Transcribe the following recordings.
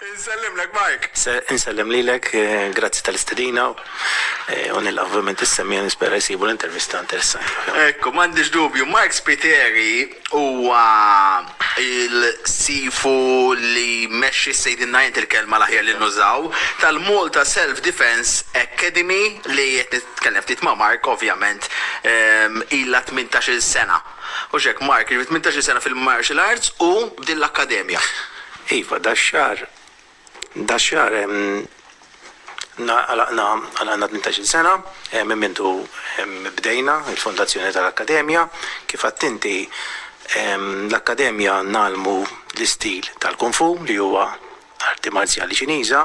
Insellimlek Mike! Insellem lilek, grazzi tal-istedina u nilqa' ovvjament is-semgħa nispera jsibu l-intervista interessanti ħafna. Ekku, m'għandix dubju. Mike Spiteri huwa l-sifu li jmexxi s-sejdinna int il-kelma l-aħjar li nużaw, tal-Malta Self Defence Academy li qed nitkellem ftit ma' Mark ovvjament ilha tmintax-il sena. Hux hekk Mark? Jiġifieri tmintax-il sena fil-martial arts u b'din l-akkademja. Iva, dax-xahar, dax-xahar għalaqna għalaqna tmintax-il sena, minn mintu bdejna il-fondazzjoni tal-Akkademja. Kif għadt inti, l-Akkademja ngħallmu l-istil tal-Kung Fu li huwa arti marzjali Ċiniża,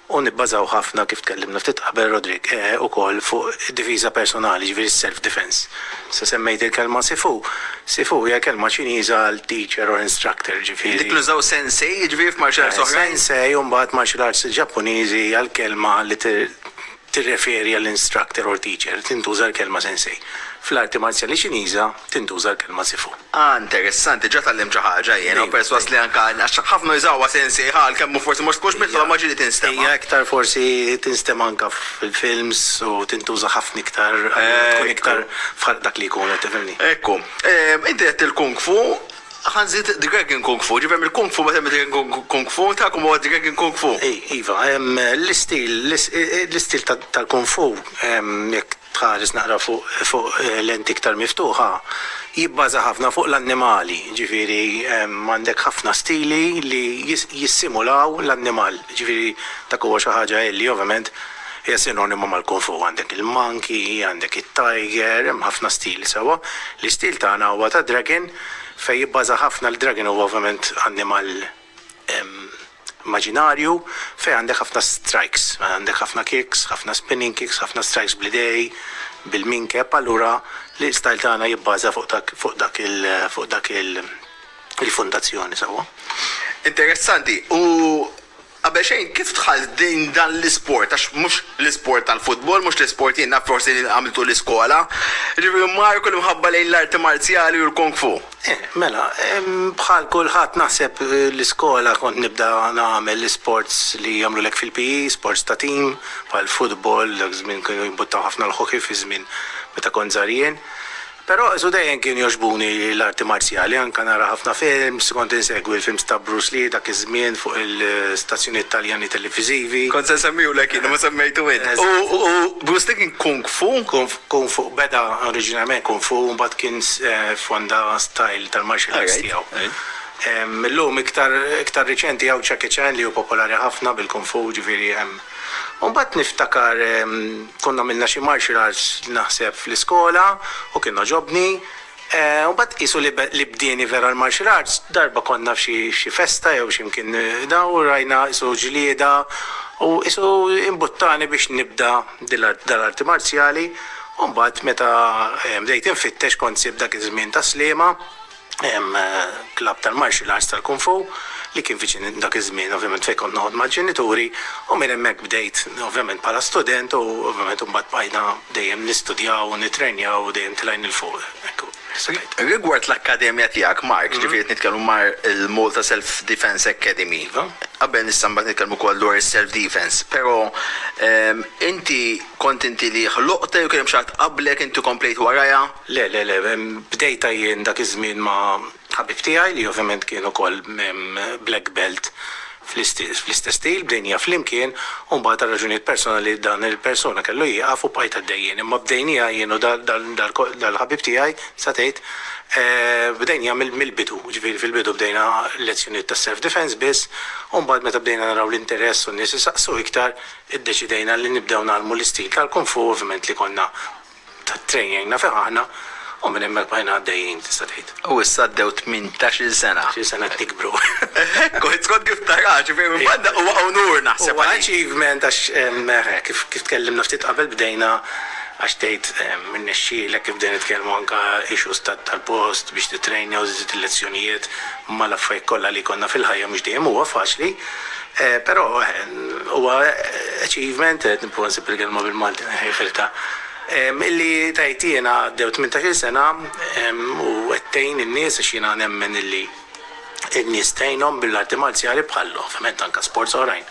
u nibbażaw ħafna, kif tkellimna ftit qabel Roderick, ukoll fuq id-difiża personali, jiġifieri s-self defence. Issa semmejt il-kelma sifu. Sifu hija kelma Ċiniża għal teacher or instructor, jiġifieri. Dik li nużaw sensei, jiġifieri f'martial arts oħrajn? Sensei u mbagħad martial arts Ġappuniżi hija l-kelma li tirreferi għall-instructor or teacher, tintuża l-kelma sensei. Fl-arti marzjali Ċiniża, tintuża l-kelma sifu. Ah interessanti, ġa tgħallimt xi ħaġa jiena u persważ li anke għax ħafna jużawha sensieh għal kemm hu forsi mhux tkunx mitluba ma ġieli tinstema'. Hija iktar forsi tinstema' anke fil-films u tintuża ħafna iktar għalina tkun iktar f'ħaqq dak li jkun qed tifhimni. Ekku. Inti għedt il-kung fu, ħa nżid dragon kung fu, ġifieri hemm il-kung fu mbagħad hemm id-dragon kung fu, tagħkom huwa dragon kung fu. Iva, l-istil l-istil tal-kung fu jekk tħares naqra fuq lenti iktar miftuħa, jibbaża ħafna fuq l-annimali, jiġifieri hemm għandek ħafna stili li jissimulaw l-annimal, jiġifieri dak huwa xi ħaġa illi ovvjament hija sinonima mal-kung fu, għandek il-monkey, għandek it-tiger, hemm ħafna stili sewwa. L-istil tagħna huwa ta' dragon fejn jibbaża ħafna, l-dragon huwa ovvjament annimal, immaġinarju fejn għandek ħafna strikes, għandek ħafna kicks, ħafna spinning kicks, ħafna strikes bl-idej, bil-minkeb, allura l-style tagħna jibbaża fuq dak fuq dak il fuq dak il il-fundazzjoni sewwa. Interessanti, u qabel xejn kif dħalt din dan l-isport għax mhux l-isport tal-futbol, mhux l-isport jien naf forsi li għamiltu l-iskola, jiġifieri Marco l-imħabba lejn l-arti marzjali u l-kung fu? Eh, mela, bħal kulħadd naħseb l-iskola kont nibda nagħmel l-isports li jagħmlulek fil-PE, sports ta' tim, bħal futbol, dak żmien kienu jimbuttaw ħafna l-hockey fi żmien meta kont żgħar jien. Però qsu dejjem kienu jogħġbuni l-arti marzjali, anke nara ħafna films, kont insegwi l-films ta' Bruce Lee dak iż-żmien fuq il-stazzjonijiet Taljani televiżivi. Kont se nsemmihulek jien u ma semmejtu int. U Bruce Lee kien kung fu? Kung Fu, beda oriġinarjment Kung Fu u mbagħad kien fonda style tal-martial arts tiegħu. Illum iktar iktar riċenti hawn Jackie Chan li hu popolari ħafna bil-Kung Fu, ġifieri hemm. U mbagħad niftakar konna għamilna xi martial arts naħseb fl-iskola u kien għoġobni, U mbagħad qisu li li bdieni vera l-martial arts, darba konna f'xi xi festa jew xi mkien da u rajna qisu ġlieda u qisu imbuttani biex nibda dil-art dal-arti marzjali u mbagħad meta bdejt infittex kont sib dak iż-żmien Tas-Sliema hemm klabb tal-martial arts tal-kung fu li kien viċin dak iż-żmien ovvjament fejn kont noqgħod mal-ġenituri u minn hemmhekk bdejt ovvjament bħala student u ovvjament u mbagħad bqajna Dejjem nistudjaw u nittrenjaw u dejjem tilgħin 'il fuq. Hekk hu. Rigward l-akkademja tiegħek, Mark, ġifieri qed nitkellmu mar il-Malta Self Defence Academy. Qabel nista' mbagħad nitkellmu wkoll dwar is-self defence. Però inti kont inti li ħloqtha jew kien hemm xi ħadd qablek inti komplejt warajha? Le, le, le. Bdejtha jien dak iż-żmien ma' Ħabib tiegħi li ovvjament kien ukoll black belt fl-istess stil, bdejnija flimkien u mbagħad għal raġunijiet personali dan il-persuna kellu jieqaf u bqajt għaddejjin. Imma bdejnija jien u dal-ħabib tiegħi tista' tgħid bdejnija mill-bidu, ġifieri fil-bidu bdejna lezzjonijiet ta' self defense biss u mbagħad meta bdejna naraw l-interess u n-nies isaqsu iktar iddeċidejna li nibdew ngħallmu l-istil tal-kung fu ovvjament li konna tat-train għinna fih aħna u minn hemmhekk bqajna għaddejjin tista' tgħid. U issa għaddew tmintax-il sena. Xi sena qed nikbru. Hekk hu, skont kif taraha, ġifieri minn banda huwa unur naħseb għalik. Huwa achievement għax kif tkellimna ftit qabel bdejna għax tgħid irnexxielek kif bdejna nitkellmu anke issues tal-post biex titrainja u żżid il-lezzjonijiet mal-affarijiet kollha li jkollna fil-ħajja mhux dejjem huwa faċli. Però huwa achievement, qed nipprova nsib il-kelma bil-Malti nħejħiltha, illi tgħid jiena għaddew tmintax-il sena u qed tgħin in-nies għax jiena nemmen illi n-nies tgħinhom bil-arti marzjali bħal ovvjament anke sports oħrajn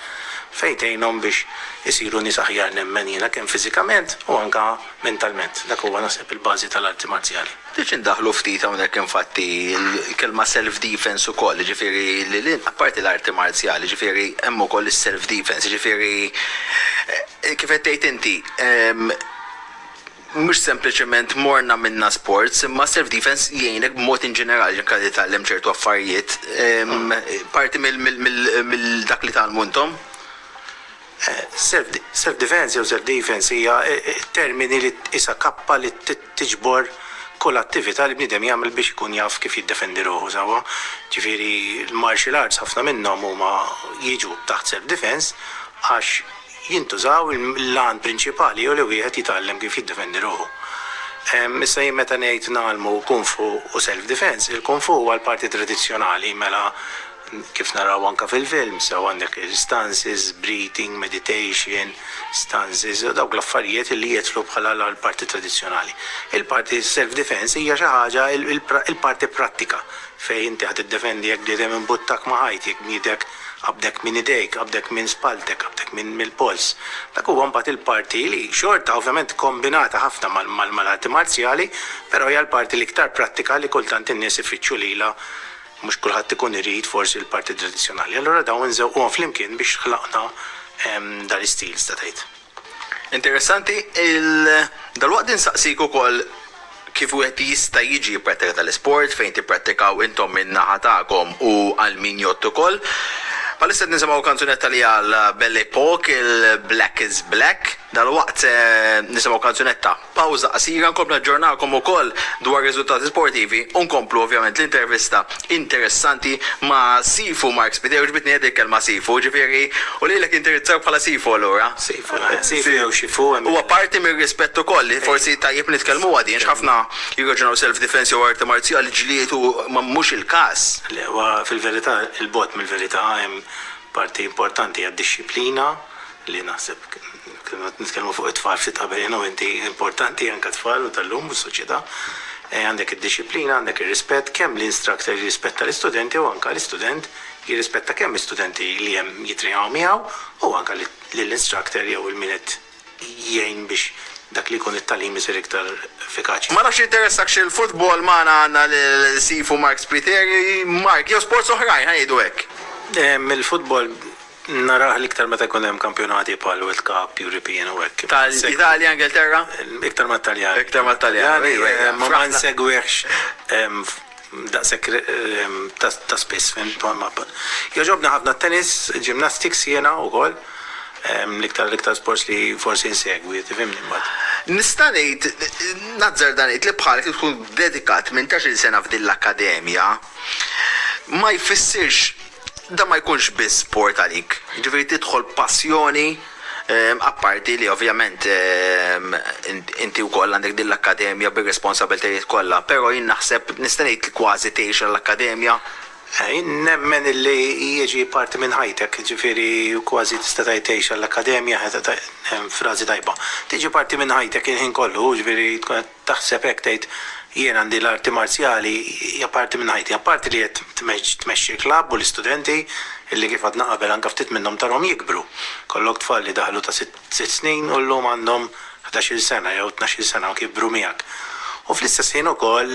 fejn tgħinhom biex isiru nies aħjar nemmen jiena kemm fiżikament u anke mentalment. Dak huwa naħseb il-bażi tal-arti marzjali. Ftit xi ndaħħlu ftit hawnhekk infatti l-kelma self defense ukoll, jiġifieri lil hinn, apparti l-arti marzjali, jiġifieri hemm ukoll is-self defense, jiġifieri kif qed tgħid inti, mhux sempliċement morna minna sports, imma self defense jgħinek b'mod in ġenerali anke titgħallem ċertu affarijiet, parti mill-dak li tgħallmu intom? Self-defense jew self-defense hija termini li tqisha kappa li tiġbor kull attività li bniedem jagħmel biex ikun jaf kif jiddefendi ruħu sewwa. Ġifieri l-martial arts ħafna minnhom huma jiġu taħt self-defense għax jintużaw l-għan prinċipali hu li wieħed jitgħallem kif jiddefendi ruħu. Issa jien meta ngħid ngħallmu kung fu u self-defense, il-kung fu huwa l-parti tradizzjonali mela Kif naraw anke fil-film, sew għandek il-stances, breathing, meditation, stances, u dawk l-affarijiet li jidħlu bħala l-parti tradizzjonali. Il-parti self defense hija xi ħaġa il-parti prattika fejn inti qed iddefendi jekk bniedem imbuttak ma' ħajt, jekk bniedek qabdek minn idejk, qabdek minn spalltek, qabdek mill-polz. Dak huwa mbagħad il-parti li xorta ovvjament kkombinata ħafna mal-arti marzjali, però hija l-parti l-iktar prattika li kultant in-nies ifittxu lilha Mhux kulħadd ikun irid forsi l-parti tradizzjonali. Allura dawn inżewquhom flimkien biex ħlaqna dan is-stil tista' tgħid. Interessanti, dalwaqt insaqsik ukoll kif wieħed jista' jiġi jipprattika dan l-isport, fejn tipprattikaw intom min-naħa tagħkom u għal min jgħodd ukoll. Bħalissa qed nisimgħu kanzunetta li għal Belle Epoque, il-Black is Black. Dalwaqt se nisimgħu kanzunetta. Pawża qasira, nkomplu naġġornakom ukoll dwar riżultati sportivi u nkomplu ovvjament l-intervista interessanti ma' Sifu Mark Spiteri, għoġbitni hedi l-kelma Sifu, ġifieri u lilek nindirizzawk bħala Sifu allura? Sifu, Sifu jew Xifu hemm. Huwa parti mir-rispett ukoll li forsi tajjeb nitkellmuha din x'ħafna jirraġunaw self defense jew arti marzjali ġlied u mhux il-każ. Le, huwa fil-verità 'il bogħod mill-verità, hemm parti importanti għad-dixxiplina li naħseb kemm qed nitkellmu fuq it-tfal ftit qabel jiena u inti, importanti anke t-tfal u tal-lum u s-soċjetà, għandek id-dixxiplina, għandek ir-rispett, kemm l-instructor jirrispetta l-istudenti u anke l-istudent jirrispetta kemm l-istudenti li hemm jitrejnaw miegħu u anke lill-instructor jew il-min qed jgħin biex dak li jkun it-tagħlim isir iktar effikaċi. Ma nafx jinteressak x'il-futbol, magħna għandna lil Sifu Mark Spiteri, Mark, jew sports oħrajn, ħa ngħidu hekk. Mill-futbol. Narah l-iktar meta jkun hemm kampjonati bħal World Cup, European u hekk. Tal-Italja, Ingilterra? Iktar mat-Taljani. Iktar mat-Taljani, ejwa, ejwa. Imma ma nsegwihx daqshekk ta' spiss, fhimt? Jogħġobni ħafna t-tennis, gymnastics jiena wkoll. L-iktar l-iktar sports li forsi nsegwi, tifhimni mbagħad. Nista' ngħid, nazzarda ngħid li bħalek li tkun dedikat tmintax-il sena f'din l-akkademja ma jfissirx dan ma jkunx biss sport għalik, jiġifieri tidħol b'passjoni, apparti li ovvjament inti wkoll għandek din l-akkademja bir-responsabiltajiet kollha, però jien naħseb nista' ngħid li kważi tgħix għall-akkademja. Jien nemmen li hija ġie parti minn ħajtek, jiġifieri kważi tista' tgħid tgħix għall-akkademja, frażi tajba. Tiġi parti minn ħajtek il-ħin kollu, jiġifieri tkun qed taħseb hekk tgħid jien għandi l-arti marzjali hija parti minn ħajti, apparti li qed tmexxi l-klabb u l-istudenti illi kif għadna qabel anke ftit minnhom tarhom jikbru. Kollok tfal li daħlu ta' sitt snin u llum għandhom ħdax-il sena jew tnax-il sena u kibru miegħek. U fl-istess ħin ukoll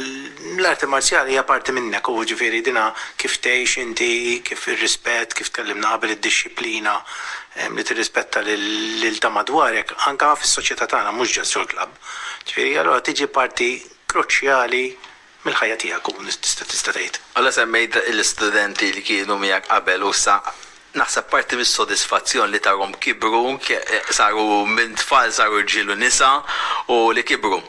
l-arti marzjali hija parti minnek u ġifieri dinha kif tgħix inti, kif ir-rispett, kif tkellimna qabel id-dixxiplina li tirrispetta lil ta' madwarek anke fis-soċjetà tagħna mhux just ġol-klabb. Ġifieri, allura tiġi parti kruċjali mill-ħajja tiegħek u tista' tista' tgħid. Mela semmejt l-istudenti li kienu miegħek qabel u issa, naħseb parti mis-sodisfazzjon li tarhom kibru, saru minn tfal saru rġiel u nisa u li kibru.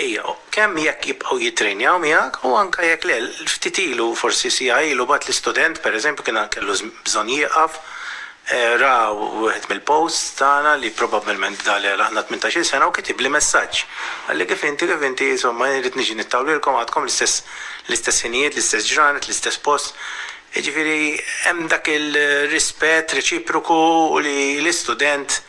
Ija, kemm jekk jibqgħu jittrejnjaw miegħek u anke jekk le, ftit ilu, forsi siegħa ilu, bagħatli student, pereżempju, kien kellu bżonn jieqaf, Ra wieħed mill-posts tagħna li probabbilment bda li għalaqna tmintax-il sena u kitibli messaġġ. Qalli kif inti, kif inti, insomma jien rrid niġi nittawlilkom għadkom l-istess l-istess ħinijiet, l-istess ġranet, l-istess post. Jiġifieri hemm dak il-rispett reċiproku li l-istudent,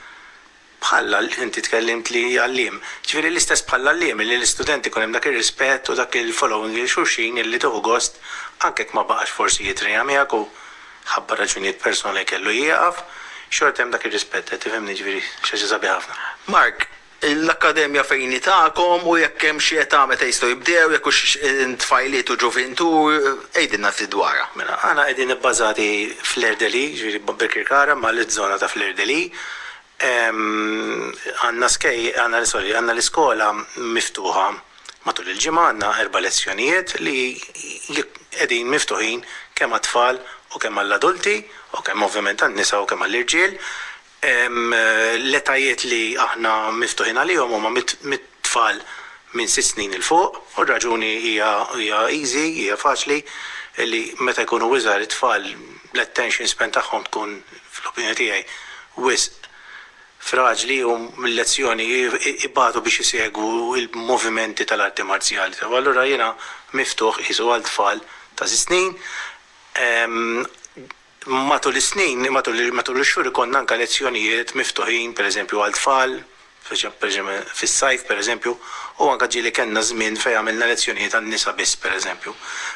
bħal, inti tkellimt li għalliem, jiġifieri l-istess bħall-għalliem li l-istudent ikun hemm dak ir-rispett u dak il-following lil xulxin illi tieħu gost anke jekk ma baqax forsi jitrejna miegħek u ħabba raġunijiet personali kellu jieqaf, xorta hemm dak ir-rispett, qed tifhemni, jiġifieri xi ħaġa sabiħa ħafna. Mark, L-akkademja fejn hi tagħkom u jekk hemm xi età meta jistgħu jibdew, jekk hux tfajliet u ġuvintu, għidilna ftit dwarha. Mela, aħna qegħdin ibbażati f'Fleur de Lis, jiġifieri Birkirkara mal-żona ta' Fleur de Lis, Għandna skej, għandna, sorry, għandna l-iskola miftuħa matul il-ġimgħa, għandna erba' lezzjonijiet li qegħdin miftuħin kemm għat-tfal u kemm għall-adulti u kemm ovvjament għan-nisa u kemm għall-irġiel. L-etajiet li aħna miftuħin għalihom huma mit, tfal minn sitt snin 'il fuq u r-raġuni hija easy, hija faċli, li meta jkunu iżgħar it-tfal l-attention span tagħhom tkun fl-opinjoni tiegħi wisq fraġli u l-lezzjoni ibatu biex isegwu l-movimenti tal-arti marzjali tagħhom. Allura jiena miftuħ qisu għal tfal ta' sitt snin. Matul is-snin, matul ix-xhur ikollna anke lezzjonijiet miftuħin, pereżempju għal tfal, fis-sajf pereżempju, u anke ġieli kellna żmien fejn għamilna lezzjonijiet għan-nisa biss pereżempju.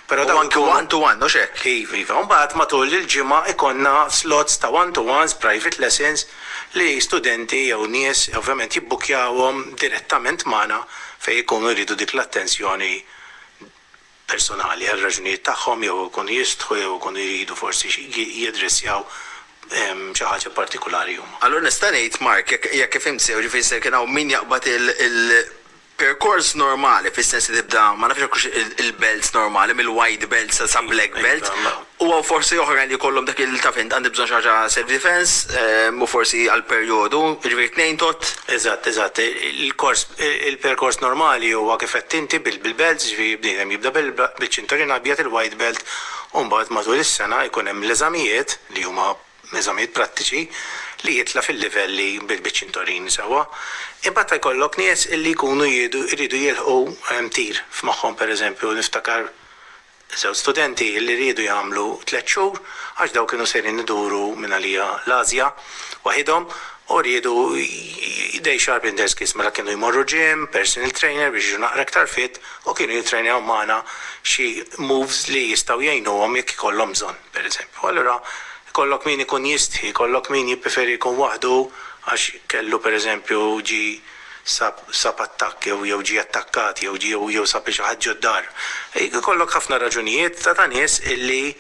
Però dawn ikunu. U anke one to one, hux hekk? Iva, iva. U mbagħad matul il-ġimgħa ikollna slots ta' one to ones, private lessons, li studenti jew nies ovvjament jibbukkjawhom direttament magħna fejn ikunu jridu dik l-attenzjoni personali għal raġunijiet tagħhom jew ikunu jistħu jew ikunu jridu forsi jaddressjaw xi ħaġa partikulari huma. Allura nista' ngħid, Mark, jekk jekk fimt sew, ġifieri se jkun hawn min jaqbad il-perkors normali fis-sens li tibda, ma nafx jekk hux il-belts normali, mill-white belt sa sa black belt, U hawn forsi oħrajn li jkollhom dak il, taf int, għandi bżonn xi ħaġa self defense, u forsi għal perjodu, jiġifieri tnejn tot. Eżatt, eżatt. Il-kors, il-perkors normali huwa kif għedt inti bil-belts, jiġifieri bniedem jibda biċ-ċinturin abjad, il-white belt, u mbagħad matul is-sena jkun hemm l-eżamijiet, li huma eżamijiet prattiċi, li jitla' fil-livelli biċ-ċinturin sewwa. Imbagħad jkollok nies illi jkunu jridu jilħqu tir f'moħħhom, pereżempju niftakar, Żewġ studenti li riedu jagħmlu tliet xhur għax dawn kienu sejrin iduru mingħalija l-Ażja waħidhom u riedu day sharp in their skills. Mela kienu jmorru gym, personal trainer biex jiġu naqra iktar fit u kienu jittrejnaw magħna xi moves li jistgħu jgħinuhom jekk ikollhom bżonn, pereżempju. Allura ikollok min ikun jistħi, ikollok min jippreferi jkun waħdu għax kellu pereżempju ġie sab sab attakk jew jew ġie attakkat jew jew jew sab lil xi ħadd ġod-dar. Ikollok ħafna raġunijiet ta' ta' nies illi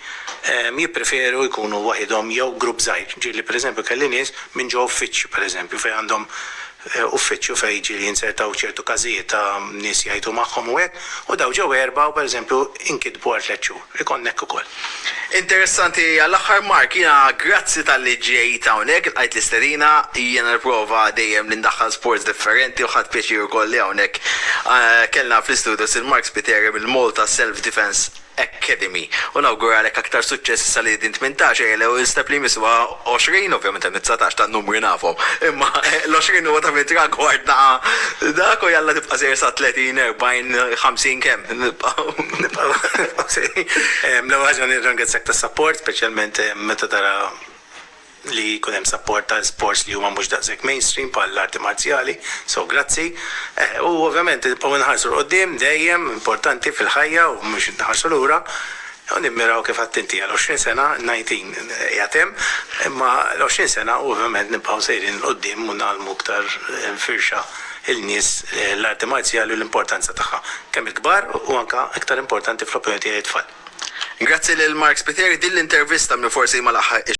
jippreferu jkunu waħidhom jew grupp żgħir. Ġieli pereżempju kelli nies minn ġo uffiċċju pereżempju fejn għandhom uffiċċju fejn ġieli jinzertaw ċertu każijiet ta' nies jgħajtu magħhom u hekk u dawn ġew erbgħa u pereżempju inkitbu għal tliet xhur. Ikon hekk ukoll. Interessanti għall-aħħar Mark, jiena grazzi talli ġejt hawnhekk, ilqajt l-istedina, jiena nipprova dejjem li ndaħħal sports differenti u ħadt pjaċir ukoll li hawnhekk kellna fl-istudios lil Mark Spiteri mill-Malta Self Defence Academy u nawguralek aktar suċċess issa li din tmintax ejja l-ewwel step li jmiss huwa 20, ovvjament hemm it-dsatax tan-numri nafhom, imma l-20 huwa ta' min tragward ta' dak u jalla nibqa' sejjer sa 30, 40, 50 kemm nibqgħu nibqgħu nibqgħu sejrin. L-ewwel ħaġa nirġa' nirringrazzjak tas-sapport, speċjalment meta tara li jkun hemm sapport għal sports li huma mhux daqshekk mainstream bħall-arti marzjali, so grazzi. U ovvjament nibqgħu nħarsu 'l quddiem dejjem, importanti fil-ħajja u mhux inħarsu lura. Hawn nimmiraw kif għedt inti għal għoxrin sena, n-nineteen qiegħed hemm, imma l-għoxrin sena ovvjament nibqgħu sejrin 'l quddiem u ngħallmu iktar firxa lin-nies l-arti marzjali u l-importanza tagħha, kemm il-kbar u anke iktar importanti fl-opinjoni tiegħi t-tfal. Grazzi lil Mark Spiteri, din l-intervista minn forsi ma laħħaqhiex.